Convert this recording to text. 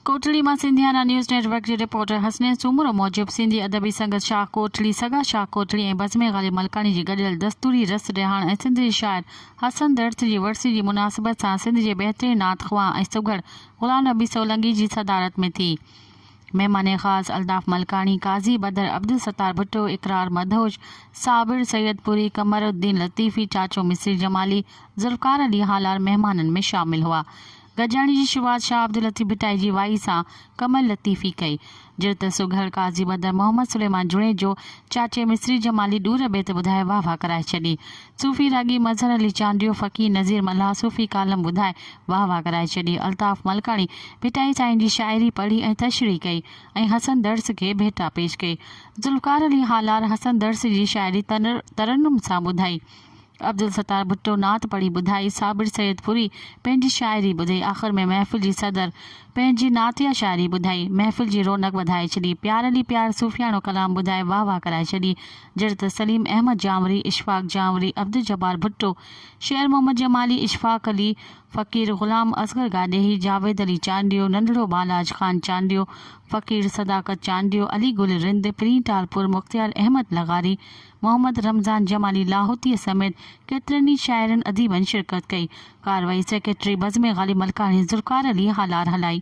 ڪوٽڙي مان Sindhiana news network جي reporter Hasnain Soomro موجب سنڌي ادبي سنگت شاهه ڪوٽڙي سگا شاهه ڪوٽڙي ۽ بزمي غالب ملڪاڻي جي گڏيل دستوري رس رهاڻ ۽ سنڌ جي شاعر حسن درس جي ورسي جي مناسبت سان سنڌ جي بهترين نعت خوان ۽ سگهڙ غلام نبي سولنگي جي صدارت ۾ ٿي مهمان خاص الطاف ملڪاڻي، قاضي بدر، عبدالستار ڀٽو، اقرار مدهوش، صابر سيدپوري، قمر الدين لطيفي، چاچو مصري جمالي، ذوالفقار علي هالار مهمانن ۾ شامل هئا. گڏجاڻي جي شروعات شاهه عبداللطيف ڀٽائي جي وائي سان قمر لطيفي ڪئي. جڙت سگهڙ قاضي بدر محمد سليمان جوڻيجو چاچي مصري جمالي ڏور بيت ٻڌائي واهه واهه ڪرائي ڇڏي. صوفي راڳي مظهر علي چانڊيو، فقير نذير ملاح صوفي ڪالم ٻڌائي واهه واهه ڪرائي ڇڏي. الطاف ملڪاڻي ڀٽائي سائين جي شاعري پڙهي ۽ تشريح ڪئي ۽ حسن درس کي ڀيٽا پيش ڪئي. ذوالفقار علي هالار حسن درس جي شاعري ترنم سان ٻڌائي. عبدالستار ڀٽو نعت پڙهي ٻڌائي. صابر سيد پوري پنهنجي شاعري ٻڌي. آخر ۾ محفل جي صدر پنهنجي نعتيه شاعري ٻڌائي. محفل جي رونق وڌائي ڇڏي. پيار علي پيار صوفياڻو ڪلام ٻڌائي واهه واهه ڪرائي ڇڏي. جهڙي ته سليم احمد جانوري، اشفاق جانوري، عبدالجبار ڀٽو، شير محمد جمالي، اشفاق علي، فقير غلام اصغر گاڏيهي، جاويد علي چانڊيو، ننڍڙو ٻالاج خان چانڊيو، فقير صداقت چانڊيو، علي گل رند، پرين ٽالپور، مختيار احمد لغاري، محمد رمضان جمالي لاهوتي سميت ڪيترن ئي شاعرن اديبن شرڪت ڪئي. ڪارروائي سيڪريٽري بزم غالب ملڪاڻي ذوالفقار علي هالار هلائي.